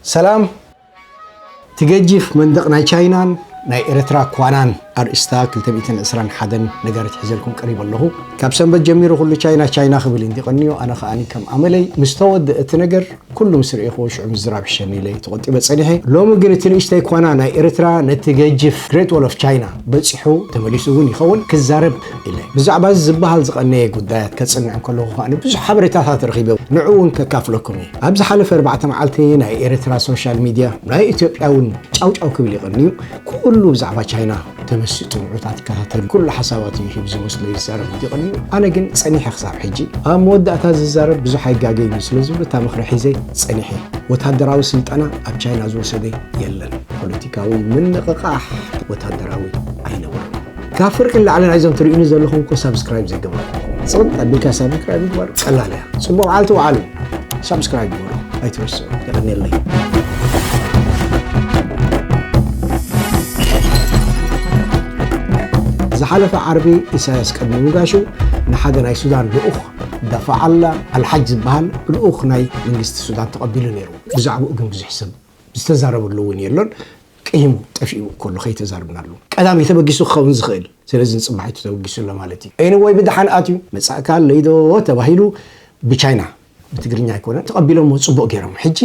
ሰላም እቲ ገጂፍ መንደቕ ናይ ቻይናን ናይ ኤረትራ ኳናን ኣርእስታ ክልተ ሚእትን ዕስራን ሓደን ነጋሪት ሒዘልኩም ቀሪበ ኣለኹ። ካብ ሰንበት ጀሚሩ ኩሉ ቻይና ቻይና ክብል እንዲ ቀንዩ ኣነ ከኣ ከም ኣመለይ ምስ ተወድእ እቲ ነገር ኩሉ ምስ ርኤኽዎ ሽዑ ምዝራብ ይሕሸኒ ኢለ ተቆጢበ ጸኒሐ። ሎሚ ግን እቲ ንእሽተይ ኳና ናይ ኤረትራ ነቲ ገጂፍ ግሬት ዎል ኦፍ ቻይና በጺሑ ተመሊሱ እውን ይኸውን ክዛረብ ኢለ። ብዛዕባ እዚ ዝበሃል ዝቀነየ ጉዳያት ከጽንዕ እንከለኹ ከኣ ብዙሕ ሓበሬታታት ረኺበ ንዕኡ እውን ከካፍለኩም ኢየ። ኣብ ዝሓለፈ ኣርባዕተ መዓልቲ ናይ ኤርትራ ሶሻል ሚድያ ናይ ኢትዮጵያ እውን ጫውጫው ክብል ይቐንዩ። ኩሉ ብዛዕባ ቻይና ተመሲጡ ንዑታት ይከታተል፣ ኩሉ ሓሳባት እዩ ሂብ ዝመስሎ ይዛረብ ይቐንዩ። ኣነ ግን ጸኒሐ ክሳብ ሕጂ ኣብ መወዳእታ ዝዛረብ ብዙሕ ኣይጋገይን እዩ ስለ ዝብሉ እታ ምኽሪ ሒዘ ጸኒሐ። ወተሃደራዊ ስልጠና ኣብ ቻይና ዝወሰደ የለን። ፖለቲካዊ ምንቕቓሕ ወተሃደራዊ ኣይነበሮን። ካብ ፍርቂ ንላዕሊ ናይዞም ትርእዩኒ ዘለኹም እኮ ሳብስክራይብ ዘይገበርኩም ፅቕጥ ኣቢልካ ሳብስክራይብ ምግባር ቀላል እያ ፅቡቕ በዓል ትውዓሉ ሳብስክራይብ ግበሩ ኣይትረስዑ የቐኒየለይ ዝሓለፈ ዓርቢ ኢሳያስ ቀዲ ምጋሹ ንሓደ ናይ ሱዳን ልኡኽ ዳፋዓላ ኣልሓጅ ዝበሃል ልኡኽ ናይ መንግስቲ ሱዳን ተቐቢሉ ነይሩ ብዛዕባኡ ግን ብዙሕ ሰብ ዝተዛረበሉ እውን የሎን፣ ቅሂሙ ጠፊኡ እኮ ኣሎ ከይተዛርብናሉ። ቀዳምይ ተበጊሱ ክኸውን ዝኽእል፣ ስለዚ ንጽባሒቱ ተበጊሱ ኣሎ ማለት እዩ። Anyway ብደሓን ኣትዩ መጻእካለይ ዶ ተባሂሉ ብቻይና ብትግርኛ ኣይኮነን ተቐቢሎምዎ ጽቡቕ ጌሮም። ሕጂ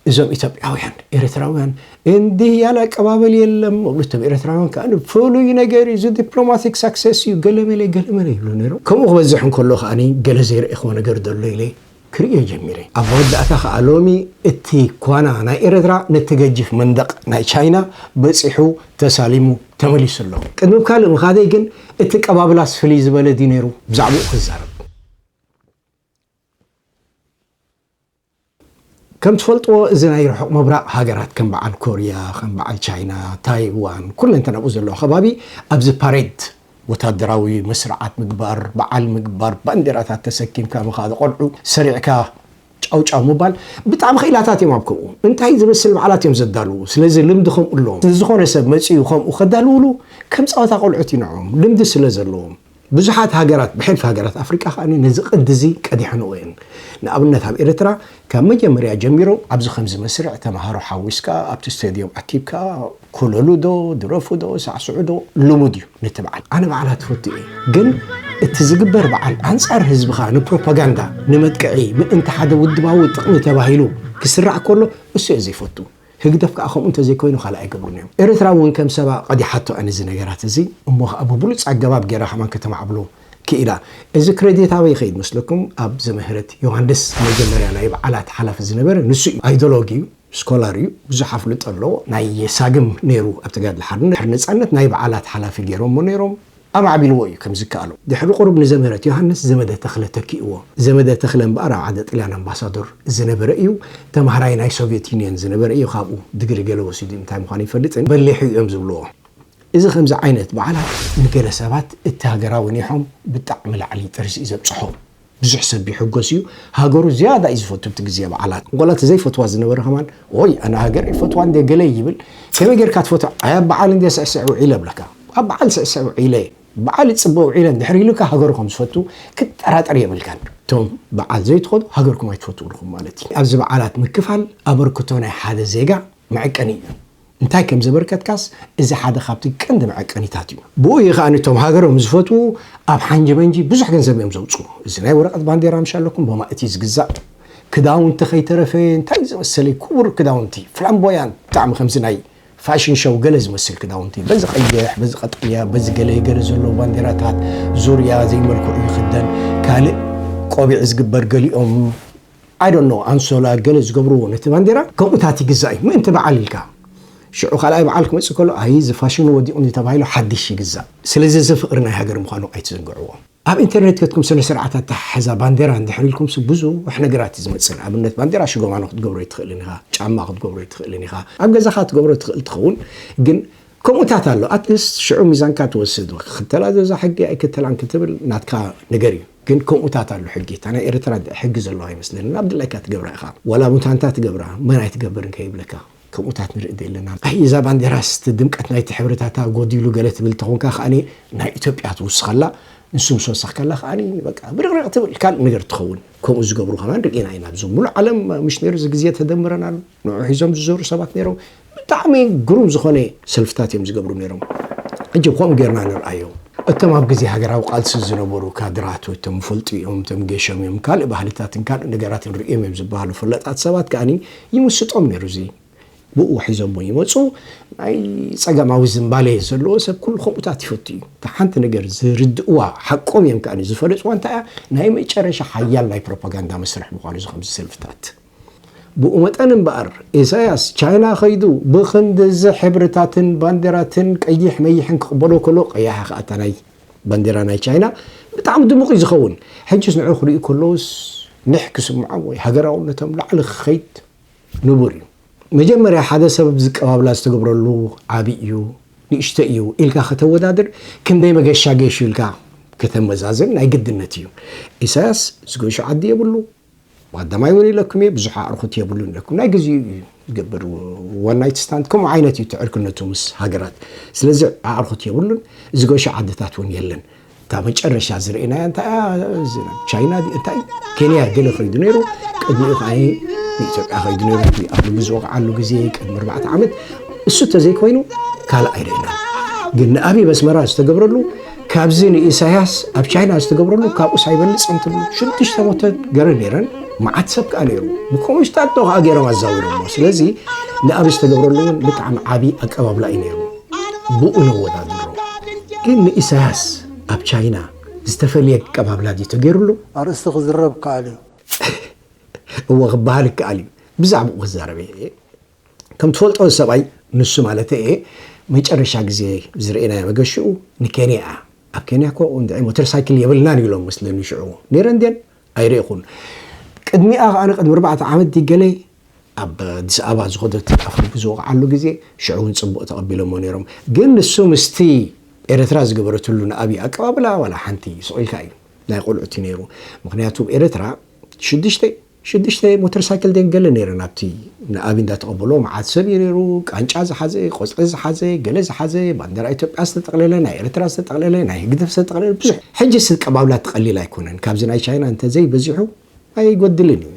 እዞም ኢትዮጵያውያን ኤርትራውያን እንዲህ ያለ ኣቀባበል የለም እቶም ኤርትራውያን ከኣ ፍሉይ ነገር እዩ እዚ ዲፕሎማቲክ ሳክሰስ እዩ ገለመለ ገለመለ ይብሉ ኔሮም። ከምኡ ክበዝሕ እንከሎ ከኣ ገለ ዘይረኤኽዎ ነገር ዶ ኣሎ ኢለ ክርእዮ ጀሚረ። ኣብ መወዳእታ ከኣ ሎሚ እቲ ኳና ናይ ኤረትራ ነቲ ገጂፍ መንደቕ ናይ ቻይና በጺሑ ተሳሊሙ ተመሊሱ ኣሎ። ቅድሚ ካልእ ምኻደይ ግን እቲ ቀባብላስ ፍልይ ዝበለ ድዩ ነይሩ ብዛዕብኡ ክዛረብ። ከም ትፈልጥዎ እዚ ናይ ርሑቕ ምብራቕ ሃገራት ከም በዓል ኮርያ ከም በዓል ቻይና ታይዋን ኩለን ተን ኣብኡ ዘለዋ ከባቢ ኣብዚ ፓሬድ ወታደራዊ መስርዓት ምግባር፣ በዓል ምግባር፣ ባንዴራታት ተሰኪምካ ምኻድ፣ ቖልዑ ሰሪዕካ ጫውጫው ምባል ብጣዕሚ ክኢላታት እዮም ኣብ ከምኡ እንታይ ዝመስል በዓላት እዮም ዘዳልዉ ስለዚ ልምዲ ከምኡ ኣለዎም ንዝኾነ ሰብ መጺኡ ከምኡ ከዳልዉሉ ከም ጻወታ ቆልዑት እዩ ንዕኦም ልምዲ ስለ ዘለዎም ብዙሓት ሃገራት ብሕልፊ ሃገራት ኣፍሪቃ ከኣ ነዚ ቅዲ እዚ ቀዲሐንኦ እየን ንኣብነት ኣብ ኤርትራ ካብ መጀመርያ ጀሚሩ ኣብዚ ከምዚ መስርዕ ተማሃሮ ሓዊስካ ኣብቲ ስተድዮም ኣኪብካ ኩለሉ ዶ ድረፉ ዶ ሳዕስዑ ዶ ልሙድ እዩ ነቲ በዓል ኣነ በዓላት ትፈቱ እየ ግን እቲ ዝግበር በዓል ኣንጻር ህዝብኻ ንፕሮፓጋንዳ ንመጥቀዒ ምእንቲ ሓደ ውድባዊ ጥቕሚ ተባሂሉ ክስራዕ ከሎ እሱ እየ ዘይፈቱ ህግደፍ ከዓ ከምኡ እንተዘይኮይኑ ካልእ ኣይገብሩን እዮም ኤርትራ እውን ከም ሰባ ቀዲሓቶ እያ ነዚ ነገራት እዚ እሞ ከዓ ብብሉፅ ኣገባብ ገይራ ከማን ከተማዕብሎ ክኢላ እዚ ክሬዲት ኣበይ ይኸይድ መስለኩም ኣብ ዘምህረት ዮሃንስ መጀመርያ ናይ በዓላት ሓላፊ ዝነበረ ንሱ እዩ ኣይዶሎግ እዩ ስኮላር እዩ ብዙሕ ኣፍልጦ ኣለዎ ናይ ሳግም ነይሩ ኣብ ተጋድሎ ሓርነት ድሕሪ ነጻነት ናይ በዓላት ሓላፊ ገይሮሞ ነይሮም ኣማዕቢልዎ እዩ ከም ዝከኣሎ ድሕሪ ቁሩብ ንዘምህረት ዮሃንስ ዘመደ ተኽለ ተኪእዎ ዘመደ ተኽለ እምበኣር ኣብ ዓደ ጥልያን ኣምባሳዶር ዝነበረ እዩ ተማሃራይ ናይ ሶቭየት ዩንየን ዝነበረ እዩ ካብኡ ድግሪ ገለ ወሲዱ እዩ እንታይ ምዃኑ ኣይፈልጥን በሊሑ እዩ እዮም ዝብልዎ እዚ ከምዚ ዓይነት በዓላት ንገለ ሰባት እቲ ሃገራዊ ኒሖም ብጣዕሚ ላዕሊ ጥርዚ እዩ ዘብጽሖም። ብዙሕ ሰብ ይሕጎስ እዩ ሃገሩ ዝያዳ እዩ ዝፈቱ እቲ ግዜ በዓላት ወላ እቲ ዘይፈትዋ ዝነበረ ከማን ኦይ ኣነ ሃገረይ ይፈትዋ እንዴ ገለ ይብል ከመይ ጌርካ ትፈትዋ ኣይ ኣብ በዓል እንዴ ስዕስዕ ውዒለ ይብለካ ኣብ በዓል ስዕስዕ ውዒለ በዓል ይጽበ ውዒለ እንድሕር ኢሉካ ሃገሩ ከም ዝፈቱ ክትጠራጠር የብልካን እቶም በዓል ዘይትኸዱ ሃገርኩም ኣይትፈትዉ ኢኹም ማለት እዩ ኣብዚ በዓላት ምክፋል ኣበርክቶ ናይ ሓደ ዜጋ መዐቀኒ እዩ እንታይ ከም ዘበርከትካስ እዚ ሓደ ካብቲ ቀንዲ መዐቀኒታት እዩ። ብኡ እዩ ከኣ እቶም ሃገሮም ዝፈትዉ ኣብ ሓንጂ መንጂ ብዙሕ ገንዘብ እዮም ዘውጽኡ። እዚ ናይ ወረቐት ባንዴራ ምሽ ኣለኩም በማ እቲ ዝግዛእ እዩ። ክዳውንቲ ከይተረፈ እንታይ ዝመሰለ ኩቡር ክዳውንቲ ፍላምቦያንት ብጣዕሚ ከምዚ ናይ ፋሽን ሸው ገለ ዝመስል ክዳውንቲ በዚ ቀይሕ በዚ ቀጠልያ በዚ ገለ ገለ ዘለዎ ባንዴራታት ዙርያ ዘይመልክዑ ይኽደን ካልእ ቆቢዕ ዝግበር ገሊኦም I don't know ኣንሶላ ገለ ዝገብርዎ ነቲ ባንዴራ ከምኡታት ይግዛእ እዩ ምእንቲ በዓል ኢልካ ሽዑ ካልኣይ በዓል ክመጽእ ከሎ ኣይ እዚ ፋሽኑ ወዲቁኒ ተባሂሉ ሓድሽ ይግዛእ ስለዚ እዚ ፍቅሪ ናይ ሃገር ምዃኑ ኣይትዝንግዕዎ። ኣብ ኢንተርኔት ከትኩም ስነ ስርዓት ኣተሓሕዛ ባንዴራ እንድሕር ኢልኩምሲ ብዙሕ ነገራት እዩ ዝመጽእ ንኣብነት ባንዴራ ሽጎማኖ ክትገብሮ ኣይትኽእልን ኢኻ ጫማ ክትገብሮ ኣይትኽእልን ኢኻ ኣብ ገዛኻ ትገብሮ ትኽእል ትኸውን ግን ከምኡታት ኣሎ ኣትሊስት ሽዑ ሚዛንካ ትወስድ ክኽተላ ዘዛ ሕጊ ኣይክተላን ክትብል ናትካ ነገር እዩ ግን ከምኡታት ኣሉ ሕጊ እታ ናይ ኤረትራ ሕጊ ዘለዋ ኣይመስለንን ኣብድላይ እካ ትገብራ ኢካ ዋላ ሙታንታ ትገብራ መን ኣይትገብርን ከይብለካ ከምኡታት ንርኢ ደለና ኣይ እዛ ባንዴራስ እቲ ድምቀት ናይቲ ሕብርታታ ጎዲሉ ገለ ትብል ተኮንካ ከኣ ናይ ኢትዮጵያ ትውስክ ኣላ ንሱ ምስ ወሰክ ከላ ከኣ በቃ ብርቅርቅ ትብል ካልእ ነገር ትከውን ከምኡ ዝገብሩ ከማን ርኢና ኢና ኣብዞም ሙሉእ ዓለም ምሽ ነሩ እዚ ግዜ ተደምረናሉ ንዑ ሒዞም ዝዞሩ ሰባት ነሮም ብጣዕሚ ግሩም ዝኾነ ሰልፍታት እዮም ዝገብሩ ነይሮም ሕጂ ከምኡ ጌርና ንርኣዮም እቶም ኣብ ግዜ ሃገራዊ ቃልሲ ዝነበሩ ካድራት ወይ እቶም ይፈልጡ እዮም እቶም ጌሾም እዮም ካልእ ባህልታትን ካልእ ነገራትን ርእዮም እዮም ዝብሃሉ ፈለጣት ሰባት ከኣ ይምስጦም ነይሩ እዚ ብእኡ ሒዞሞ ይመጹ ናይ ጸጋማዊ ዝምባሌ ዘለዎ ሰብ ኩሉ ከምኡታት ይፈቱ እዩ እታ ሓንቲ ነገር ዝርድእዋ ሓቆም እዮም ከኣ ዝፈለጥዋ እንታይ እያ ናይ መጨረሻ ሓያል ናይ ፕሮፓጋንዳ መስርሕ ምዃኑ እዚ ከምዚ ሰልፍታት ብኡ መጠን እምበኣር ኢሳያስ ቻይና ከይዱ ብኽንድዚ ሕብርታትን ባንዴራትን ቀይሕ መይሕን ክቕበሎ ከሎ ቀያሕ ከኣ እታ ናይ ባንዴራ ናይ ቻይና ብጣዕሚ ድሙቕ እዩ ዝኸውን። ሕጅስ ንዑ ክርኢ ከሎስ ኒሕ ክስምዖም ወይ ሃገራውነቶም ላዕሊ ክኸይድ ንቡር እዩ። መጀመርያ ሓደ ሰብ ኣብዚ ቀባብላ ዝተገብረሉ ዓቢ እዩ ንእሽተይ እዩ ኢልካ ከተወዳድር ክንደይ መገሻ ገይሹ ኢልካ ከተመዛዝን ናይ ግድነት እዩ። ኢሳያስ ዝገሹ ዓዲ የብሉ። ማዳማይ ውን ኢለኩም እየ ብዙሕ ኣዕርኹት የብሉን ኢለኩም ናይ ግዜኡ እዩ ዝገብር ዋን ናይት ስታንድ ከምኡ ዓይነት እዩ ትዕርክነቱ ምስ ሃገራት ስለዚ ኣዕርኹት የብሉን ዝገሾ ዓድታት ውን የለን እታ መጨረሻ ዝርእናያ እንታይ እያ ቻይና እንታይ ኬንያ ገለ ከይዱ ነይሩ ቅድሚኡ ከዓ ንኢትዮጵያ ከይዱ ነይሩ ኣብ ልቢ ዝወቕዓሉ ግዜ ቅድሚ ኣርባዕተ ዓመት እሱ ተዘይኮይኑ ካልእ ኣይርእናን ግን ንኣብይ በስመራ ዝተገብረሉ ካብዚ ንኢሳያስ ኣብ ቻይና ዝተገብረሉ ካብኡስ ኣይበልፅን ትብሉ ሽዱሽተ ሞተ ገረ ነይረን መዓት ሰብ ከዓ ነይሩ ብኮሙኒስታት ዶ ከዓ ገይሮም ኣዛዊሮሞ ስለዚ ንኣብይ ዝተገብረሉ እውን ብጣዕሚ ዓብዪ ኣቀባብላ እዩ ነይሩ ብኡ ነወዳድሮ ግን ንኢሳያስ ኣብ ቻይና ዝተፈለየ ኣቀባብላ ድዩ ተገይሩሉ ኣርእስቲ ክዝረብ ከኣል እዩ እወ ክበሃል ይከኣል እዩ ብዛዕባኡ ክዛረብ እየ ከም ትፈልጦ እዚ ሰብኣይ ንሱ ማለተይ እየ መጨረሻ ግዜ ዝርኤናዮ መገሽኡ ንኬንያ እያ ኣብ ኬንያ እኮ እንድዒ ሞተር ሳይክል የብልናን እዩ ኢሎም መስለኒ ሽዑ ነይረ እንድየን ኣይርኤኹን ቅድሚኣ ከኣ ቅድሚ ኣርባዕተ ዓመት ድዩ ገለ ኣብ ኣዲስ ኣበባ ዝኸደት ኣፍልቢ ብዝወቕዓሉ ግዜ ሽዑ እውን ጽቡቕ ተቐቢሎሞ ነይሮም ግን ንሱ ምስቲ ኤርትራ ዝገበረትሉ ንኣብይ ኣቀባብላ ዋላ ሓንቲ ስቕ ኢልካ እዩ ናይ ቆልዑት እዩ ነይሩ ምኽንያቱ ኤርትራ ሽዱሽተ ሽዱሽተ ሞተር ሳይክል ድየን ገለ ነይረን ኣብቲ ንኣብይ እንዳተቐበሎ መዓት ሰብ እዩ ነይሩ ቃንጫ ዝሓዘ ቆፅሊ ዝሓዘ ገለ ዝሓዘ ባንደራ ኢትዮጵያ ዝተጠቕለለ ናይ ኤርትራ ዝተጠቕለለ ናይ ህግደፍ ዝተጠቕለለ ብዙሕ ሕጅስ ኣቀባብላት ቐሊል ኣይኮነን ካብዚ ናይ ቻይና እንተዘይ በዚሑ ኣይጎድልን እዩ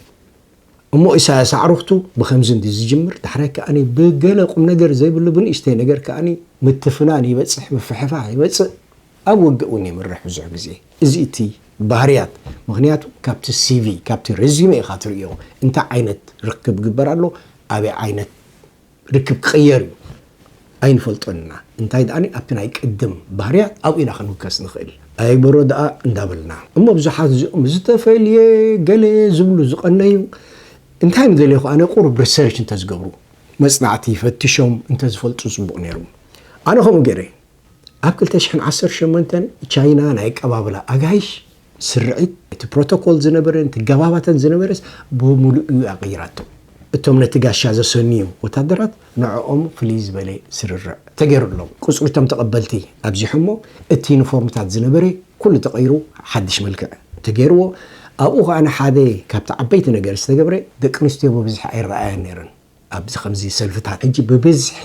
እሞ ኢሳያስ ኣዕሩኽቱ ብኸምዚ እንዲ ዝጅምር ዳሕራይ ከኣ ብገለ ቁምነገር ዘይብሉ ብንእሽተይ ነገር ከኣ ምትፍናን ይበፅሕ ምፍሕፋሕ ይመፅእ ኣብ ውግእ ውን የምርሕ ብዙሕ ግዜ እዚ እቲ ባህርያት ምክንያቱ ካብቲ ሲቪ ካብቲ ረዚመ ኢካ ትርእዮ እንታይ ዓይነት ርክብ ይግበር ኣሎ ኣበይ ዓይነት ርክብ ክቅየር እዩ ኣይንፈልጦን ኢና እንታይ ድኣኒ ኣብቲ ናይ ቅድም ባህርያት ኣብኡ ኢና ክንውከስ ንክእል ኣይ በሮ ድኣ እንዳበልና እሞ ብዙሓት እዚኦም ዝተፈልየ ገለ ዝብሉ ዝቀነዩ እንታይ ንገሌ እኮ ኣነ ቁሩብ ርሰርች እንተዝገብሩ መጽናዕቲ ፈትሾም እንተዝፈልጡ ጽቡቅ ነይሩ ኣነ ከምኡ ገይረ ኣብ ክልተ ሽሕን ዓሰርተ ሸሞንተን ቻይና ናይ ኣቀባብላ ኣጋይሽ ስርዒት፣ እቲ ፕሮቶኮል ዝነበረን እቲ ገባባተን ዝነበረስ ብምሉኡ እያ ቀይራቶ። እቶም ነቲ ጋሻ ዘሰንዩ ወታደራት ንዕኦም ፍልይ ዝበለ ስርርዕ ተገይሩሎም። ቁጽሪ እቶም ተቐበልቲ ኣብዚሖሞ፣ እቲ ዩኒፎርምታት ዝነበረ ኩሉ ተቐይሩ ሓድሽ መልክዕ ተገይርዎ። ኣብኡ ከኣ ሓደ ካብቲ ዓበይቲ ነገር ዝተገብረ፣ ደቂ ኣንስትዮ ብብዝሒ ኣይረኣያን ነይረን። ኣብዚ ከምዚ ሰልፍታት ሕጂ ብብዝሒ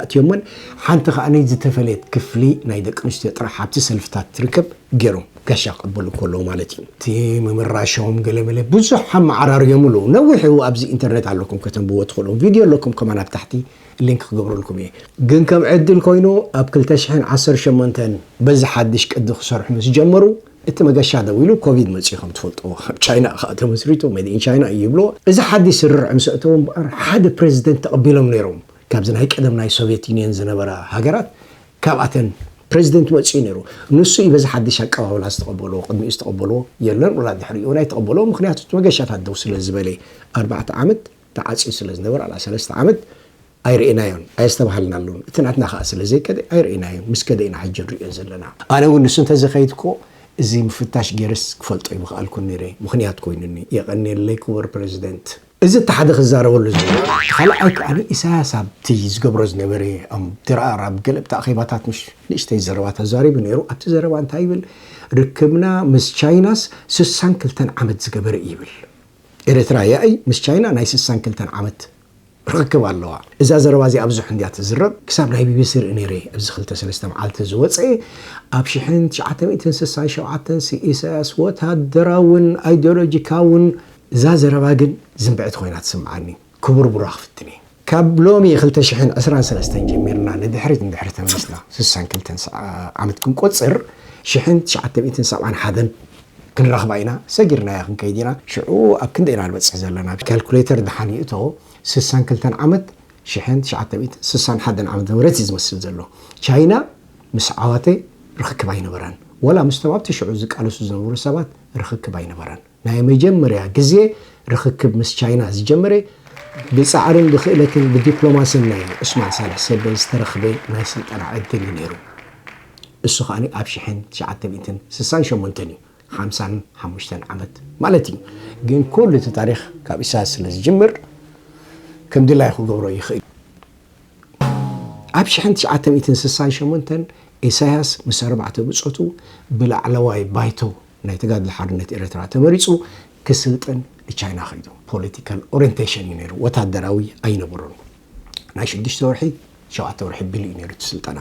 ኣእትዮመን ሓንቲ ከኣ ዝተፈለየት ክፍሊ ናይ ደቂ ኣንስትዮ ጥራሕ ኣብቲ ሰልፍታት ትርከብ ጌሮም ጋሻ ክቅበሉ ከለዉ ማለት እዩ እቲ ምምራሾም ገለመለ ብዙሕ ኣመዓራርዮም ኣለዉ ነዊሑ ኣብዚ ኢንተርነት ኣለኩም ከተንብብዎ ትክእሉ ቪድዮ ኣለኩም ከማን ኣብ ታሕቲ ሊንክ ክገብረልኩም እየ ግን ከም ዕድል ኮይኑ ኣብ ክልተ ሽሕን ዓሰርተ ሸሞንተን በዚ ሓድሽ ቅዲ ክሰርሑ ምስ ጀመሩ እቲ መገሻ ደው ኢሉ ኮቪድ መጺኡ ከም ትፈልጥዎ ኣብ ቻይና ከኣ ተመስሪቱ ሜድ ኢን ቻይና እዩ ይብልዎ። እዚ ሓዲስ ስርርዕ ምስ ኣእተወ እምበኣር ሓደ ፕረዚደንት ተቐቢሎም ነይሮም ካብዚ ናይ ቀደም ናይ ሶቭየት ዩንየን ዝነበራ ሃገራት ካብኣተን ፕረዚደንት መጺኡ ነይሩ ንሱ እዩ በዚ ሓዲሽ ኣቀባብላ ዝተቐበልዎ ቅድሚኡ ዝተቐበልዎ የለን ወላ ድሕሪኡ ናይ ተቐበልዎ ምኽንያቱ እቲ መገሻታት ደው ስለ ዝበለ ኣርባዕተ ዓመት ተዓጽዩ ስለ ዝነበረ ሰለስተ ዓመት ኣይርኤናዮን ኣየስተብሃልናሉን እቲ ናትና ከኣ ስለ ዘይከደ ኣይርኤናዮን ምስ ከደ ኢና ሕጂ ንርእዮ ዘለና ኣነ ውን ንሱ እንተ ዘከይድኩ እዚ ምፍታሽ ጌርስ ክፈልጦ ኣይምኸኣልኩን ኔሬ ምኽንያት ኮይኑኒ የቀንየለይ ክቡር ፕረዚደንት። እዚ እቲ ሓደ ክዛረበሉ ዝደሊ እቲ ካልኣይ ከኣ ኢሳያስ ኣብቲ ዝገብሮ ዝነበረ ኣብ ድራር ኣብ ገለ ኣብቲ ኣኼባታት ምሽ ንእሽተይ ዘረባ ተዛሪቡ ኔሩ ኣብቲ ዘረባ እንታይ ይብል ርክብና ምስ ቻይናስ ስሳን ክልተን ዓመት ዝገበረ እዩ ይብል ኤረትራ ያኢ ምስ ቻይና ናይ ስሳን ክልተን ዓመት ርኽክብ ኣለዋ። እዛ ዘረባ እዚኣ ብዙሕ እንድያ ትዝረብ፣ ክሳብ ናይ ቢቢሲ ይርኢ ነይረ እዚ ክልተ ሰለስተ መዓልቲ ዝወጸ ኣብ ሽሕን ትሽዓተ ሚእትን ስሳን ሸውዓተን ኢሳያስ ወተሃደራውን ኣይድዮሎጂካውን እዛ ዘረባ ግን ዝንብዕቲ ኮይና ትስምዓኒ ክቡርቡራ ክፍትን እየ። ካብ ሎሚ ክልተ ሽሕን ዕስራን ሰለስተን ጀሚርና ንድሕሪት ንድሕሪ ተመሊስና ስሳን ክልተን ዓመት ክንቆጽር ሽሕን ትሽዓተ ሚእትን ሰብዓን ሓደን ክንረኽባ ኢና ሰጊርናያ ክንከይድ ኢና ሽዑ ኣብ ክንደይ ኢና ንበጽሕ ዘለና ካልኩሌተር ደሓን ይእቶ ስሳን ክልተን ዓመት ሽሕን ትሽዓተ ሚእትን ስሳን ሓደን ዓመተ ምህረት እዩ ዝመስል ዘሎ ቻይና ምስ ዓዋተ ርኽክብ ኣይነበራን ወላ ምስቶም ኣብቲ ሽዑ ዝቃለሱ ዝነበሩ ሰባት ርኽክብ ኣይነበራን ናይ መጀመርያ ግዜ ርኽክብ ምስ ቻይና ዝጀመረ ብጻዕርን ብክእለትን ብዲፕሎማስን ናይ ዑስማን ሳልሕ ሰበ ዝተረኽበ ናይ ስልጠና ዕድል እዩ ነይሩ እሱ ከኣ ኣብ ሽሕን ትሽዓተ ሚእትን ስሳን ሸሞንተን እዩ፣ ሓምሳን ሓሙሽተን ዓመት ማለት እዩ። ግን ኩሉ እቲ ታሪኽ ካብ ኢሳያስ ስለ ዝጅምር ከም ድላዩ ክገብሮ ይኽእል እዩ። ኣብ ሽሕን ትሽዓተ ሚእትን ስሳን ሸሞንተን ኢሳያስ ምስ ኣርባዕተ ብጾቱ ብላዕለዋይ ባይቶ ናይ ተጋድሎ ሓርነት ኤርትራ ተመሪጹ ክስልጥን ንቻይና ከይዱ። ፖለቲካል ኦሬንቴሽን እዩ ነይሩ፣ ወታደራዊ ኣይነበሮን። ናይ ሽዱሽተ ወርሒ ሸውዓተ ወርሒ ቢሉ'ዩ ነይሩ እቲ ስልጠና።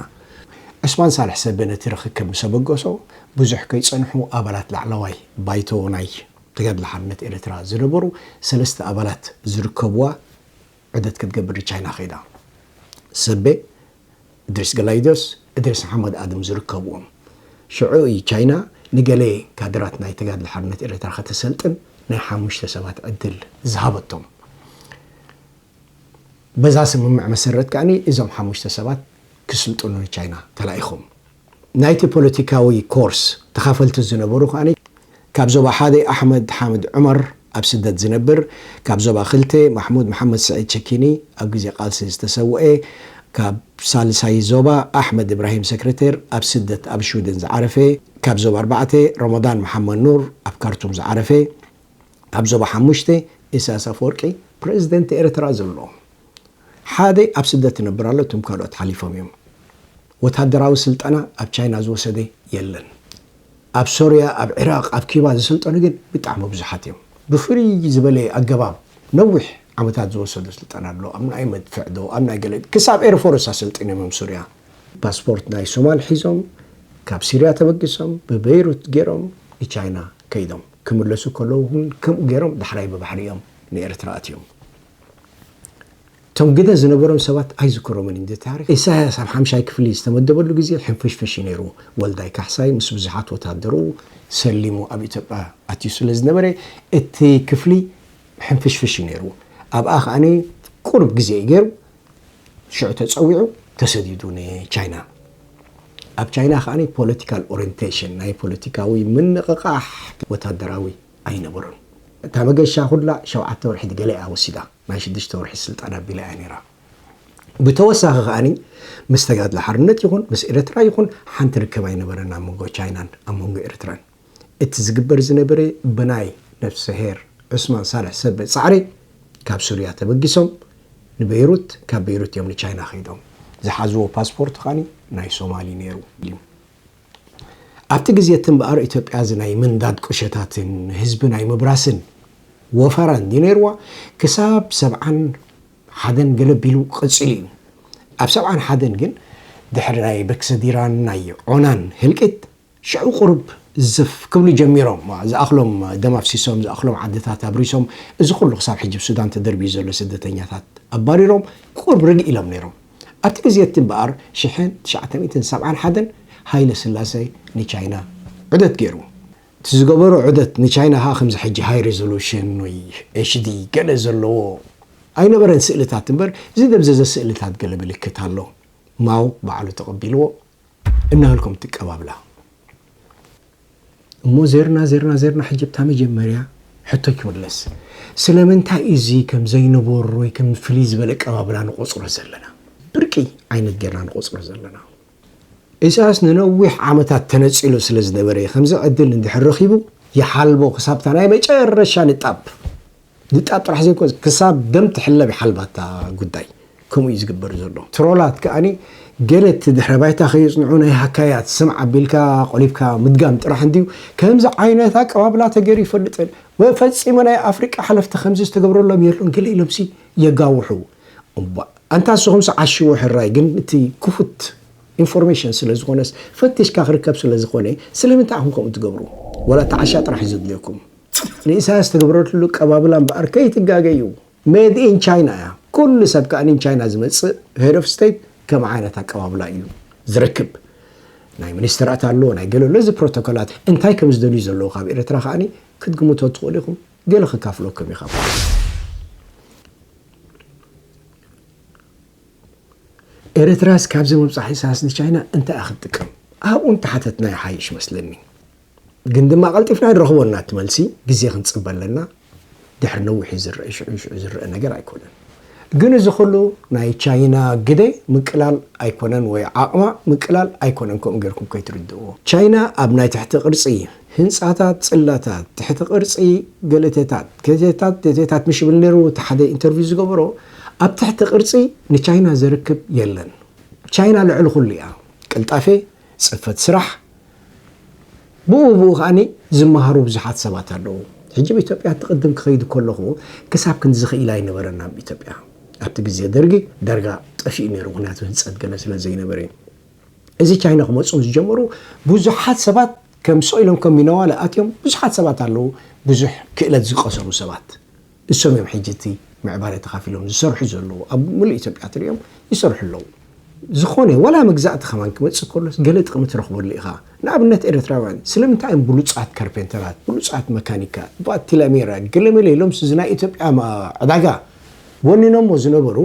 ዑስማን ሳልሕ ሰበ ነቲ ርኽክብ ምስ ኣበገሶ፣ ብዙሕ ከይጸንሑ ኣባላት ላዕለዋይ ባይቶ ናይ ተጋድሎ ሓርነት ኤርትራ ዝነበሩ ሰለስተ ኣባላት ዝርከቡዋ ዑደት ክትገብር ንቻይና ከይዳ። ሰበ፣ እድሪስ ገላይዶስ፣ እድሪስ መሓመድ ኣድም ዝርከቡዎም። ሽዑ እዩ ቻይና ንገለ ካድራት ናይ ተጋድሎ ሓርነት ኤርትራ ከተሰልጥን ናይ ሓሙሽተ ሰባት ዕድል ዝሃበቶም። በዛ ስምምዕ መሰረት ከኣ እዞም ሓሙሽተ ሰባት ክስልጥኑ ንቻይና ተላኢኾም። ናይቲ ፖለቲካዊ ኮርስ ተኻፈልቲ ዝነበሩ ከኣ ካብ ዞባ ሓደ ኣሕመድ ሓምድ ዑመር ኣብ ስደት ዝነብር፣ ካብ ዞባ ክልተ ማሕሙድ መሓመድ ስዒድ ቸኪኒ ኣብ ግዜ ቃልሲ ዝተሰውኤ፣ ካብ ሳልሳይ ዞባ ኣሕመድ እብራሂም ሰክረቴር ኣብ ስደት ኣብ ሽውደን ዝዓረፈ፣ ካብ ዞባ ኣርባዕተ ሮሞዳን መሓመድ ኑር ኣብ ካርቱም ዝዓረፈ፣ ኣብ ዞባ ሓሙሽተ ኢሳያስ ኣፈወርቂ ፕረዚደንት ኤርትራ ዘሎ ሓደ ኣብ ስደት ይነብር ኣሎ እቶም ካልኦት ሓሊፎም እዮም ወታደራዊ ስልጠና ኣብ ቻይና ዝወሰደ የለን ኣብ ሶርያ ኣብ ዒራቅ ኣብ ኪባ ዝሰልጠኑ ግን ብጣዕሚ ብዙሓት እዮም ብፍልይ ዝበለ ኣገባብ ነዊሕ ዓመታት ዝወሰዱ ስልጠና ኣሎ ኣብ ናይ መድፍዕ ዶ ኣብ ናይ ገለ ክሳብ ኤርፎርስ ኣሰልጢኖም እዮም ሱርያ ፓስፖርት ናይ ሶማል ሒዞም ካብ ሲርያ ተበጊሶም ብበይሩት ጌሮም ንቻይና ከይዶም። ክምለሱ ከለዉ ውን ከምኡ ገይሮም ዳሕራይ ብባሕሪ እዮም ንኤርትራ ኣትዮም። እቶም ግደ ዝነበሮም ሰባት ኣይዝክሮምን እንጂ ታሪኽ ኢሳያስ ኣብ ሓምሻይ ክፍሊ ዝተመደበሉ ግዜ ሕንፍሽፍሽ እዩ ነይሩ። ወልዳይ ካሕሳይ ምስ ብዙሓት ወተሃደሩ ሰሊሙ ኣብ ኢትዮጵያ ኣትዩ ስለ ዝነበረ እቲ ክፍሊ ሕንፍሽፍሽ እዩ ነይሩ። ኣብኣ ከኣ ቁሩብ ግዜ እዩ ገይሩ። ሽዑ ተጸዊዑ ተሰዲዱ ንቻይና። ኣብ ቻይና ከኣ ፖለቲካል ኦሬንቴሽን፣ ናይ ፖለቲካዊ ምንቕቓሕ፣ ወታደራዊ ኣይነበሮን። እታ መገሻ ኩላ ሸውዓተ ወርሒ ንገለ እያ ወሲዳ፣ ናይ ሽዱሽተ ወርሒ ስልጣን ኣቢላ እያ ነይራ። ብተወሳኺ ከኣ ምስ ተጋድሎ ሓርነት ይኹን ምስ ኤርትራ ይኹን ሓንቲ ርክብ ኣይነበረን ኣብ መንጎ ቻይናን ኣብ መንጎ ኤርትራን። እቲ ዝግበር ዝነበረ ብናይ ነፍሰሄር ዑስማን ሳልሕ ሰበ ጻዕሪ ካብ ሱርያ ተበጊሶም ንበይሩት ካብ በይሩት እዮም ንቻይና ከይዶም ዝሓዝዎ ፓስፖርት ኻኒ ናይ ሶማሊ ነይሩ እዩ ኣብቲ ግዜ እቲ እምበኣር ኢትዮጵያ እዚ ናይ ምንዳድ ቁሸታትን ህዝቢ ናይ ምብራስን ወፈራ እንዲ ነይርዋ ክሳብ ሰብዓን ሓደን ገለ ቢሉ ቀጺሉ እዩ ኣብ ሰብዓን ሓደን ግን ድሕሪ ናይ በክሰዲራን ናይ ዖናን ህልቂት ሽዑ ቁሩብ ዝፍ ክብሉ ጀሚሮም። ዝኣኽሎም ደም ኣፍሲሶም፣ ዝኣኽሎም ዓድታት ኣብሪሶም፣ እዚ ኩሉ ክሳብ ሕጂ ብ ሱዳን ተደርብዩ ዘሎ ስደተኛታት ኣባሪሮም ቁሩብ ርግእ ኢሎም ነይሮም። ኣብቲ ግዜ እቲ እምበኣር ሽሕን ትሽዓተ ሚእትን ሰብዓን ሓደን ሃይለስላሰ ንቻይና ዑደት ገይሩ። እቲ ዝገበሮ ዑደት ንቻይና ከኣ ከምዚ ሕጂ ሃይ ረዞሉሽን ወይ HD ገለ ዘለዎ ኣይነበረን ስእልታት እምበር ዝደብዘዘ ስእልታት ገለ ምልክት ኣሎ። ማው ባዕሉ ተቐቢልዎ እናበልኩም ትቀባብላ እሞ ዜርና ዜርና ዜርና ሕጂ ብታ መጀመርያ ሕቶ ክምለስ ስለምንታይ እዚ ከም ዘይንቡር ወይ ከም ፍልይ ዝበለ ኣቀባብላ ንቆፅሮ ዘለና ብርቂ ዓይነት ጌርና ንቆፅሮ ዘለና ኢሳያስ ንነዊሕ ዓመታት ተነፂሉ ስለ ዝነበረ ከምዚ ዕድል እንድሕር ረኺቡ ይሓልቦ ክሳብታ ናይ መጨረሻ ንጣብ ንጣብ ጥራሕ ዘይኮነስ ክሳብ ደም ትሕለብ ይሓልባ እታ ጉዳይ ከምኡ እዩ ዝግበር ዘሎ። ትሮላት ከኣ ገለ እቲ ድሕረ ባይታ ከየጽንዑ ናይ ሃካያት ስም ዓቢልካ ቆሊፍካ ምድጋም ጥራሕ እንድዩ። ከምዚ ዓይነት ኣቀባብላ ተገይሩ ኣይፈልጥን። ፈጺሙ ናይ ኣፍሪቃ ሓለፍቲ ከምዚ ዝተገብረሎም የሎን ገለ ኢሎምሲ የጋውሑ እባ። ኣንታ ንስኹምሲ ዓሽዎ ሕራይ ግን እቲ ክፉት ኢንፎርሜሽን ስለ ዝኾነስ ፈቲሽካ ክርከብ ስለ ዝኾነ ስለምንታይ ኢኹም ከምኡ ትገብሩ ዋላ እቲ ዓሻ ጥራሕ እዩ ዘድልየኩም። ንኢሳያስ ትግብረሉ ኣቀባብላ እምበኣር ከይትጋገ እዩ። ሜድ ኢን ቻይና እያ። ኩሉ ሰብ ከኣ ን ቻይና ዝመጽእ ሄድ ኦፍ ስተይት ከምኣ ዓይነት ኣቀባብላ እዩ ዝረክብ። ናይ ሚኒስተራት ኣሎ፣ ናይ ገለ ኣሎ። እዚ ፕሮቶኮላት እንታይ ከም ዝደልዩ ዘለዉ ካብ ኤርትራ ከኣ ክትግምቶ ትኽእሉ ኢኹም። ገለ ከካፍለኩም እየ ካብኡ። ኤርትራስ ካብዚ ምብጻሕ ኢሳያስ ንቻይና እንታይ እያ ክትጥቀም? ኣብኡ እንተሓተትናዮ ይሓይሽ መስለኒ። ግን ድማ ቀልጢፍና ኣይንረኽቦን ናቲ መልሲ፣ ግዜ ክንጽበ ኣለና፣ ድሕሪ ነዊሕ እዩ ዝረኣ ሽዑ ንሽዑ ዝረኣ ነገር ኣይኮነን። ግን እዚ ኩሉ ናይ ቻይና ግደ ምቅላል ኣይኮነን ወይ ዓቕማ ምቅላል ኣይኮነን ከምኡ ጌርኩም ከይትርድእዎ። ቻይና ኣብ ናይ ትሕቲ ቅርጺ ህንጻታት ጽላታት ትሕቲ ቅርጺ ገለተታት ገዜታት ገዜታት ምሽ ይብል ኔሩ እቲ ሓደ ኢንተርቪው ዝገበሮ ኣብ ትሕቲ ቅርጺ ንቻይና ዘርክብ የለን ቻይና ልዕሊ ኩሉ እያ ቅልጣፌ ጽፈት ስራሕ ብኡ ብኡ ከኣ ዝመሃሩ ብዙሓት ሰባት ኣለዉ። ሕጂ ኣብ ኢትዮጵያ ትቕድም ክኸይድ ከለኹ ክሳብ ክንድዚ ክኢላ ኣይነበረን ኣብ ኢትዮጵያ ኣብቲ ግዜ ደርጊ ዳርጋ ጠፊኡ ነይሩ ምኽንያቱ ህንጸት ገለ ስለ ዘይነበረ እዩ እዚ ቻይና ክመጹ ምስ ጀመሩ ብዙሓት ሰባት ከም ስቕ ኢሎም ከም ሚነዋለ ኣትዮም ብዙሓት ሰባት ኣለዉ ብዙሕ ክእለት ዝቀሰሙ ሰባት እሶም እዮም ሕጂ እቲ ምዕባለ ተኻፊሎም ዝሰርሑ ዘለዉ ኣብ ምሉእ ኢትዮጵያ ትርእዮም ይሰርሑ ኣለዉ ዝኾነ ዋላ መግዛእቲ ከማን ክመጽእ ከሎስ ገለ ጥቕሚ ትረኽበሉ ኢኻ ንኣብነት ኤረትራውያን ስለምንታይ እዮም ብሉጻት ከርፔንተራት ብሉጻት መካኒካት ባት ቲለሜራ ገለመለ ኢሎምስ እዚ ናይ ኢትዮጵያ ዕዳጋ ወኒኖሞ ዝነበሩ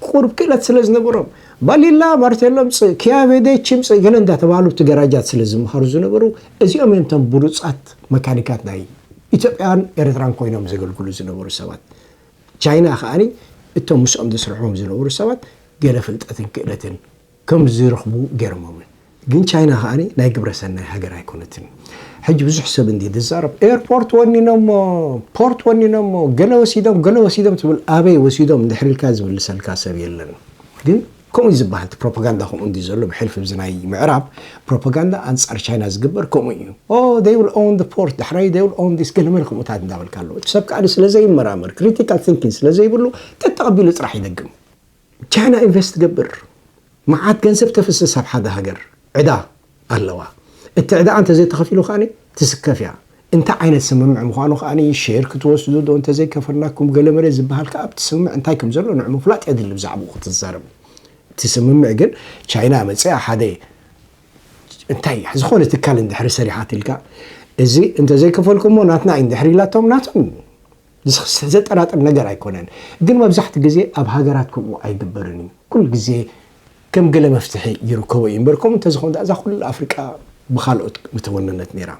ቁሩብ ክእለት ስለ ዝነበሮም ባሊላ ማርቴሎ ምጽእ ኪያቬዴች ምጽእ ገለ እንዳተባህሉ እቲ ገራጃት ስለ ዝምሃሩ ዝነበሩ እዚኦም እዮም እቶም ብሉጻት መካኒካት ናይ ኢትዮጵያን ኤርትራን ኮይኖም ዘገልግሉ ዝነበሩ ሰባት ቻይና ከኣ እቶም ምስኦም ዘስርሕዎም ዝነበሩ ሰባት ገለ ፍልጠትን ክእለትን ከም ዝረኽቡ ገይሮሞምን ግን ቻይና ከኣ ናይ ግብረ ሰናይ ሃገር ኣይኮነትን ሕጂ ብዙሕ ሰብ እንድዩ ዝዛረብ ኤርፖርት ወኒኖሞ ፖርት ወኒኖሞ ገለ ወሲዶም ገለ ወሲዶም ትብል ኣበይ ወሲዶም እንድሕሪ ኢልካ ዝምልሰልካ ሰብ የለን ግን ከምኡ እዩ ዝባሃል እቲ ፕሮፖጋንዳ ከምኡ እንድዩ ዘሎ ብሕልፊ እዚ ናይ ምዕራብ ፕሮፖጋንዳ ኣንጻር ቻይና ዝግበር ከምኡ እዩ oh they will own the port ዳሕራይ they will own this ገለመለ ከምኡታት እንዳበልካ ኣሎ እቲ ሰብ ከኣ ስለ ዘይመራመር critical thinking ስለ ዘይብሉ ተተቐቢሉ ጥራሕ ይደግም ቻይና ኢንቨስት ትገብር መዓት ገንዘብ ተፍስስ ኣብ ሓደ ሃገር ዕዳ ኣለዋ እትዕዳኣ እንተዘይተኸፊሉ ከኣ ትስከፍ እያ እንታይ ዓይነት ስምምዕ ምዃኑ ከኣ ሼር ክትወስዱ ዶ እንተዘይከፈልናኩም ገለመለ ዝበሃል ከኣ ኣብቲ ስምምዕ እንታይ ከምዘሎ ንዑ ምፍላጥ የድሊ ብዛዕብኡ ክትዛረቡ እቲ ስምምዕ ግን ቻይና መጺኣ ሓደ እንታይ እያ ዝኾነ ትካል እንድሕሪ ሰሪሓትልካ እዚ እንተዘይከፈልኩሞ ናትና እዩ እንድሕሪ ኢላቶም ናቶም እዩ ዘጠራጥር ነገር ኣይኮነን ግን መብዛሕቲ ግዜ ኣብ ሃገራት ከምኡ ኣይግበርን እዩ ኩሉ ግዜ ከም ገለ መፍትሒ ይርከቦ እዩ እምበር ከምኡ እንተዝኸውን ዳኣ እዛ ኩላ ኣፍሪቃ ብኻልኦት ምተወነነት ነይራ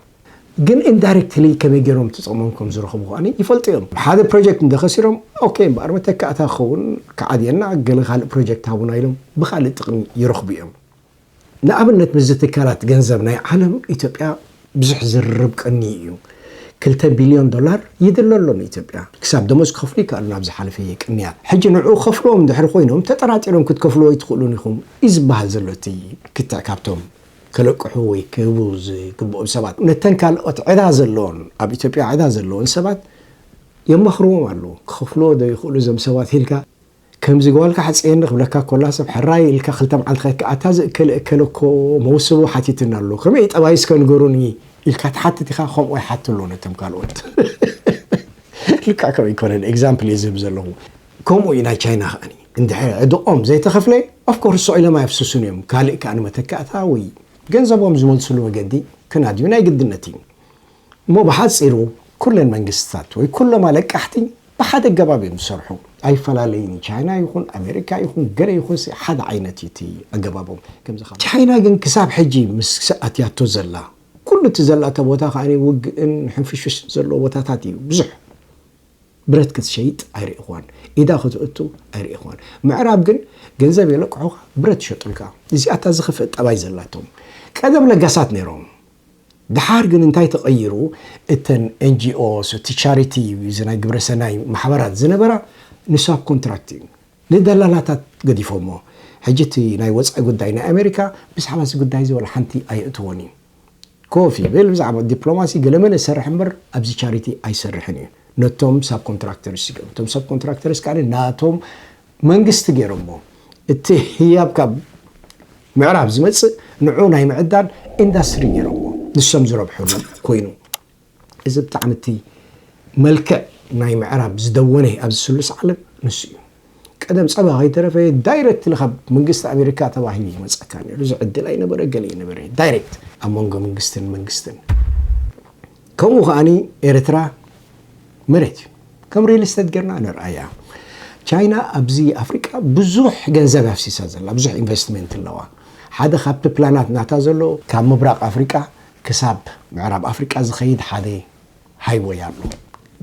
ግን ኢንዳይሬክትሊ ከመይ ገይሮም ትጥቕሞም ከም ዝረኽቡ ከኣ ይፈልጡ እዮም ሓደ ፕሮጀክት እንተኸሲሮም ኦኬ እምበኣር መተካእታ ክኸውን ክዓብየና ገለ ካልእ ፕሮጀክት ሃቡና ኢሎም ብኻልእ ጥቕሚ ይረኽቡ እዮም ንኣብነት ምስዚ ትካላት ገንዘብ ናይ ዓለም ኢትዮጵያ ብዙሕ ዝርርብ ቅንይ እዩ። ክልተ ቢልዮን ዶላር ይድለ ኣሎ ንኢትዮጵያ። ክሳብ ደሞዝ ክኸፍሉ ይከኣሉ ናብ ዝሓለፈ ቅንያት። ሕጂ ንዕኡ ከፍልዎም እንድሕሪ ኮይኖም ተጠራጢሮም ክትከፍልዎ ኣይትኽእሉን ኢኹም እዩ ዝበሃል ዘሎ እቲ ክትዕ ካብቶም ከለቅሑ ወይ ክህቡ ዝግብኦም ሰባት ነተን ካልኦት ዕዳ ዘለዎን ኣብ ኢትዮጵያ ዕዳ ዘለዎን ሰባት የማኽርዎም ኣለዉ። ክኸፍልዎ ዶ ይኽእሉ እዞም ሰባት ኢልካ? ከምዚ ጓል ካሕጽየኒ ክብለካ ኮላ ሰብ ሕራይ ኢልካ ክልተ መዓልቲ ከይካ ኣታ እዚ እከለ እከለ እኮ መውስቡ ሓቲትኒ ኣሎ ከመይ እዩ ጠባዩ እስከ ንገሩኒ ኢልካ ትሓትት ኢካ ከምኡ ኣይሓትሉ ነቶም ካልኦት ልክዕ ከምኡ ኣይኮነን ኤግዛምፕል እየ ዝህብ ዘለኹ ከምኡ እዩ ናይ ቻይና ከኣ እንድሕር ዕድቆም ዘይተኸፍለ ኦፍ ኮርስ ስቕ ኢሎም ኣየፍስሱን እዮም ካልእ ከኣ ንመተካእታ ወይ ገንዘቦም ዝመልስሉ መገዲ ክናድዩ ናይ ግድነት እዩ እሞ ብሓጺሩ ኩለን መንግስትታት ወይ ኩሎም ኣለቃሕቲ ብሓደ ኣገባብ እዮም ዝሰርሑ ኣይፈላለይን እዩ ቻይና ይኹን ኣሜሪካ ይኹን ገለ ይኹንሲ ሓደ ዓይነት እዩ እቲ ኣገባቦም ከምዚ ካብ ቻይና ግን ክሳብ ሕጂ ምስ ኣትያቶ ዘላ ኩሉ እቲ ዘላቶ ቦታ ከኣ ውግእን ሕንፍሽፍሽን ዘለዎ ቦታታት እዩ ብዙሕ ብረት ክትሸይጥ ኣይርኢኹዋን ኢዳ ከተእቱ ኣይርኢኹዋን ምዕራብ ግን ገንዘብ የለቅሑኻ ብረት ይሸጡልካ እዚኣታ ዝኽፍእ ጠባይ ዘላቶም ቀደም ለጋሳት ነይሮም ደሓር ግን እንታይ ተቐይሩ እተን NGOs እቲ ቻሪቲ እዚ ናይ ግብረ ሰናይ ማሕበራት ዝነበራ ንሳብ ኮንትራክቲንግ ንደላላታት ገዲፎሞ ሕጂ እቲ ናይ ወጻኢ ጉዳይ ናይ ኣሜሪካ ብዛዕባ እዚ ጉዳይ እዚ ወላ ሓንቲ ኣየእትዎን እዩ ኮፍ ይብል ብዛዕባ ዲፕሎማሲ ገለመለ ዝሰርሕ እምበር ኣብዚ ቻሪቲ ኣይሰርሕን እዩ ነቶም ሳብ ኮንትራክተርስ ይገብር እቶም ሳብ ኮንትራክተርስ ከኣ ናቶም መንግስቲ ገይሮሞ እቲ ህያብ ካብ ምዕራብ ዝመፅእ ንዑ ናይ ምዕዳል ኢንዳስትሪ ገይሮሞ ንሶም ዝረብሕሉ ኮይኑ እዚ ብጣዕሚ እቲ መልክዕ ናይ ምዕራብ ዝደወነ ኣብዚ ስሉስ ዓለም ንሱ እዩ ቀደም ፀባ ከይተረፈ ዳይረክትሊ ካብ መንግስቲ ኣሜሪካ ተባሂሉ እዩ ዝመፀካ ነይሩ እዚ ዕድል ኣይነበረ ገለ ይነበረ ዳይረክት ኣብ መንጎ መንግስትን መንግስትን ከምኡ ከኣ ኤርትራ መሬት እዩ ከም ሪል ስቴት ጌርና ንርኣያ ቻይና ኣብዚ ኣፍሪቃ ብዙሕ ገንዘብ ኣፍሲሳ ዘላ ብዙሕ ኢንቨስትመንት ኣለዋ ሓደ ካብቲ ፕላናት ናታ ዘሎ ካብ ምብራቅ ኣፍሪቃ ክሳብ ምዕራብ ኣፍሪቃ ዝኸይድ ሓደ ሃይወይ ኣሎ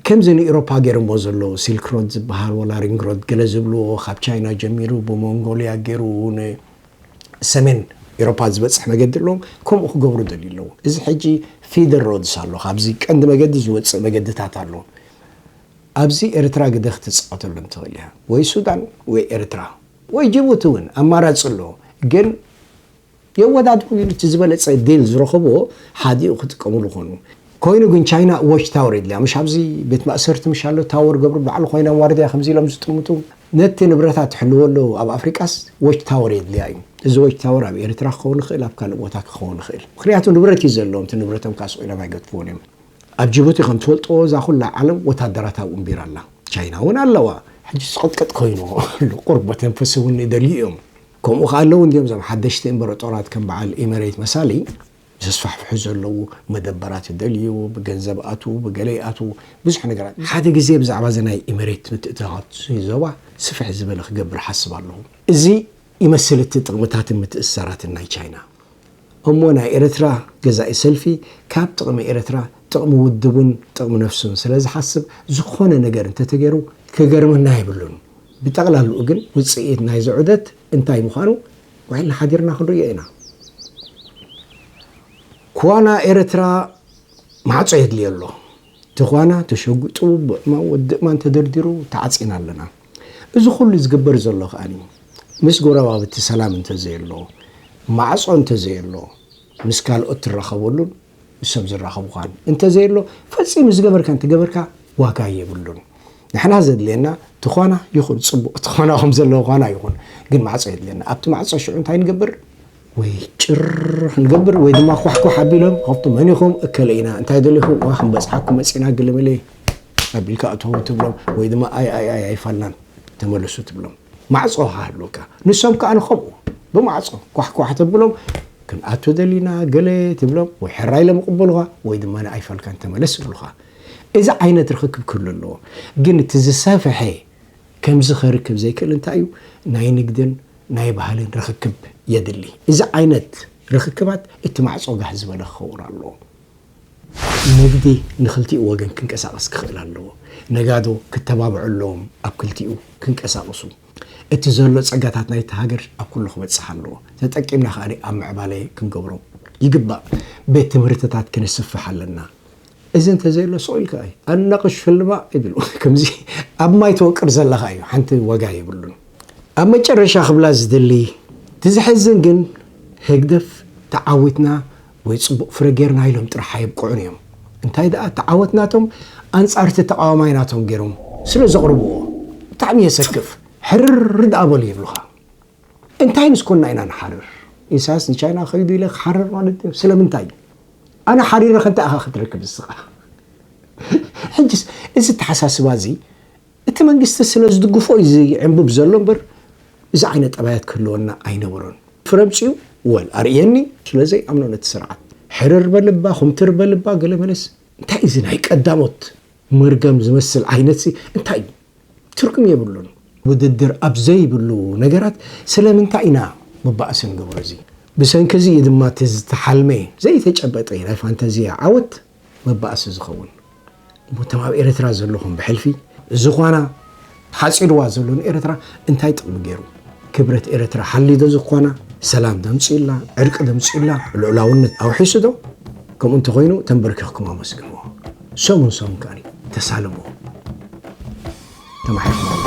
ከምዚ ንኢሮፓ ጌሮምዎ ዘለዉ ሲልክ ሮድ ዝበሃል ወላ ሪንግ ሮድ ገለ ዝብልዎ ካብ ቻይና ጀሚሩ ብሞንጎልያ ጌሩ ን ሰሜን ኤሮፓ ዝበጽሕ መገዲ ኣሎዎም ከምኡ ክገብሩ ደልዩ ኣሎዉ እዚ ሕጂ ፊደር ሮድስ ኣሎ ካብዚ ቀንዲ መገዲ ዝወጽእ መገድታት ኣሎ ኣብዚ ኤርትራ ግደ ክትጻወተሎም ትኽእል እያ ወይ ሱዳን ወይ ኤርትራ ወይ ጅቡቲ እውን ኣማራጺ ኣሎ ግን የወዳድሩ እቲ ዝበለጸ ዲል ዝረኸብዎ ሓዲኡ ክጥቀምሉ ኾኑ ኮይኑ ግን ቻይና ዎች ታወር የድልያ ምሽ ኣብዚ ቤት ማእሰርቲ ምሽ ኣሎ ታወር ገብሩ ባዕሉ ኮይናም ዋርድያ ከምዚ ኢሎም ዝጥምቱ ነቲ ንብረታ ትሕልዎ ኣለዉ ኣብ ኣፍሪቃስ ዎች ታወር የድልያ እዩ እዚ ዎች ታወር ኣብ ኤሪትራ ክከውን ይክእል ኣብ ካልእ ቦታ ክከውን ይክእል ምክንያቱ ንብረት እዩ ዘለዎም እቲ ንብረቶም ካኣ ስቅ ኢሎም ኣይገድፍዎን እዮም ኣብ ጅቡቲ ከም ትፈልጥዎ እዛ ኩላ ዓለም ወታደራት ኣብኡ እምቢራ ኣላ ቻይና ውን ኣለዋ ሕጂ ጽቅጥቅጥ ኮይኑ ኣሎ ቁሩብ መተንፈሲ ውን ይደልዩ እዮም ከምኡ ካኣ ኣለዉ እንድዮም እዞም ሓደሽቲ እምበረጦራት ከም ባዓል ኢመሬት መሳሊ ዘስፋሕፍሑ ዘለዉ መደበራት ይደልዩ ብገንዘብ ይኣትዉ ብገለ ይኣትዉ ብዙሕ ነገራት። ሓደ ግዜ ብዛዕባ እዚ ናይ ኢመሬት ምትእትታዋት እዚ ዞባ ስፍሕ ዝበለ ክገብር እሓስብ ኣለኹ። እዚ ይመስል እቲ ጥቕምታትን ምትእስሳራትን ናይ ቻይና። እሞ ናይ ኤረትራ ገዛኢ ሰልፊ ካብ ጥቕሚ ኤረትራ ጥቕሚ ውድቡን ጥቕሚ ነፍሱን ስለ ዝሓስብ ዝኾነ ነገር እንተ ተገይሩ ክገርመና የብሉን። ብጠቕላልኡ ግን ውጽኢት ናይዚ ዑደት እንታይ ምዃኑ ዋይላ ሓዲርና ክንርእዮ ኢና። ኳና ኤረትራ ማዕጾ የድልዮ ኣሎ እቲ ኳና ተሸጉጡ ብእማን ወዲ እማን ተደርዲሩ ተዓጺና ኣለና እዚ ኩሉ ዝግበር ዘሎ ከኣ ምስ ጎረባብቲ ሰላም እንተዘየሎ ማዕጾ እንተዘየሎ ምስ ካልኦት ትራኸበሉን ምስ ሰብ ዝራኸቡኻን እንተዘየሎ ፈጺሙ ዝገበርካን እንተገበርካ ዋጋ የብሉን። ንሕና ዘድልየና ትኾና ይኹን ጽቡቕ ትኾና ከም ዘለዎ ኳና ይኹን ግን ማዕጾ የድልየና። ኣብቲ ማዕጾ ሽዑ እንታይ ንገብር? ወይ ጭር ክንገብር ወይ ድማ ኳሕኳሕ ኣቢሎም ሃብቱ መን ኢኹም እከለ ኢና እንታይ ደሊኹም ዋ ክንበፅሓኩ መፂና ግልምለ ኣቢልካ እትው ትብሎም ወይ ድማ ኣይ ኣይ ኣይ ኣይፋልናን ተመለሱ ትብሎም ማዕፆ ሃልወካ ንሶም ከዓ ንከምኡ ብማዕፆ ኳሕኳሕ ተብሎም ክንኣቱ ደሊና ገለ ትብሎም ወይ ሕራይ ኢሎም ይቕበሉኻ ወይ ድማ ኣይፋልካን ተመለስ ይብሉኻ። እዚ ዓይነት ርኽክብ ክህሉ ኣለዎ። ግን እቲ ዝሰፈሐ ከምዚ ከርክብ ዘይክእል እንታይ እዩ ናይ ንግድን ናይ ባህልን ርኽክብ የድሊ። እዚ ዓይነት ርኽክባት እቲ ማዕጾ ጋህ ዝበለ ክኸውን ኣለዎ። ንግዲ ንክልቲኡ ወገን ክንቀሳቐስ ክኽእል ኣለዎ። ነጋዶ ክተባብዑ ኣለዎም ኣብ ክልቲኡ ክንቀሳቕሱ። እቲ ዘሎ ጸጋታት ናይታ ሃገር ኣብ ኩሉ ክበጽሕ ኣለዎ። ተጠቂምና ከኣ ኣብ ምዕባለ ክንገብሮ ይግባእ። ቤት ትምህርትታት ክነስፍሕ ኣለና። እዚ እንተዘየሎ ሱቕ ኢልካ እዩ። ኣናቕሽ ፍልማ ይብሉ። ከምዚ ኣብ ማይ ትወቅር ዘለኻ እዩ። ሓንቲ ዋጋ የብሉን። ኣብ መጨረሻ ክብላ ዝደሊ እቲ ዘሕዝን ግን ህግደፍ ተዓዊትና ወይ ጽቡቕ ፍረ ጌርና ኢሎም ጥራሕ ኣየብቅዑን እዮም። እንታይ ደኣ እቲ ዓወት ናቶም ኣንጻር እቲ ተቓዋማይ ናቶም ጌሮም ስለ ዘቕርብዎ ብጣዕሚ የሰክፍ። ሕርር ደኣ በሉ ይብሉኻ። እንታይ ምስ ኮና ኢና ንሓርር? ኢሳያስ ንቻይና ከይዱ ኢለ ክሓርር ማለት ድዩ? ስለምንታይ? ኣነ ሓሪረኸ እንታይ ኢኻ ክትረክብ ንስኻ? ሕጅስ እዚ ኣተሓሳስባ እዚ እቲ መንግስቲ ስለ ዝድግፎ እዩ ዝዕንብብ ዘሎ እምበር እዚ ዓይነት ጠባያት ክህልወና ኣይነበሮን። ፍረምጺኡ ወል ኣርእየኒ ስለ ዘይኣምኖ ነቲ ስርዓት። ሕርር በል እባ ኩምትር በል እባ ገለ መለስ። እንታይ እዩ እዚ ናይ ቀዳሞት መርገም ዝመስል ዓይነትሲ እንታይ እዩ? ትርጉም የብሉን። ውድድር ኣብ ዘይብሉ ነገራት ስለምንታይ ኢና መባእሲ ንገብሮ? እዚ ብሰንኪ እዚ እዩ ድማ እቲ ዝተሓልመ ዘይተጨበጠ ናይ ፋንታዚያ ዓወት መባእሲ ዝኸውን እሞ እቶም ኣብ ኤርትራ ዘለኹም ብሕልፊ ዝዃና ሓጺርዋ ዘሎ ንኤርትራ እንታይ ጥቕሚ ገይሩ? ክብረት ኤርትራ ሓልዩዶ ዝዃና ሰላም ደምጺኡላ ዕርቂ ደምጺኡላ ልዑላውነት ኣውሒሱዶ? ከምኡ እንተኾይኑ ተንበርኪኽኩም ኣመስግንዎ ሰሙን ሰሙን ከኣ ተሳለምዎ ተማሒርኩም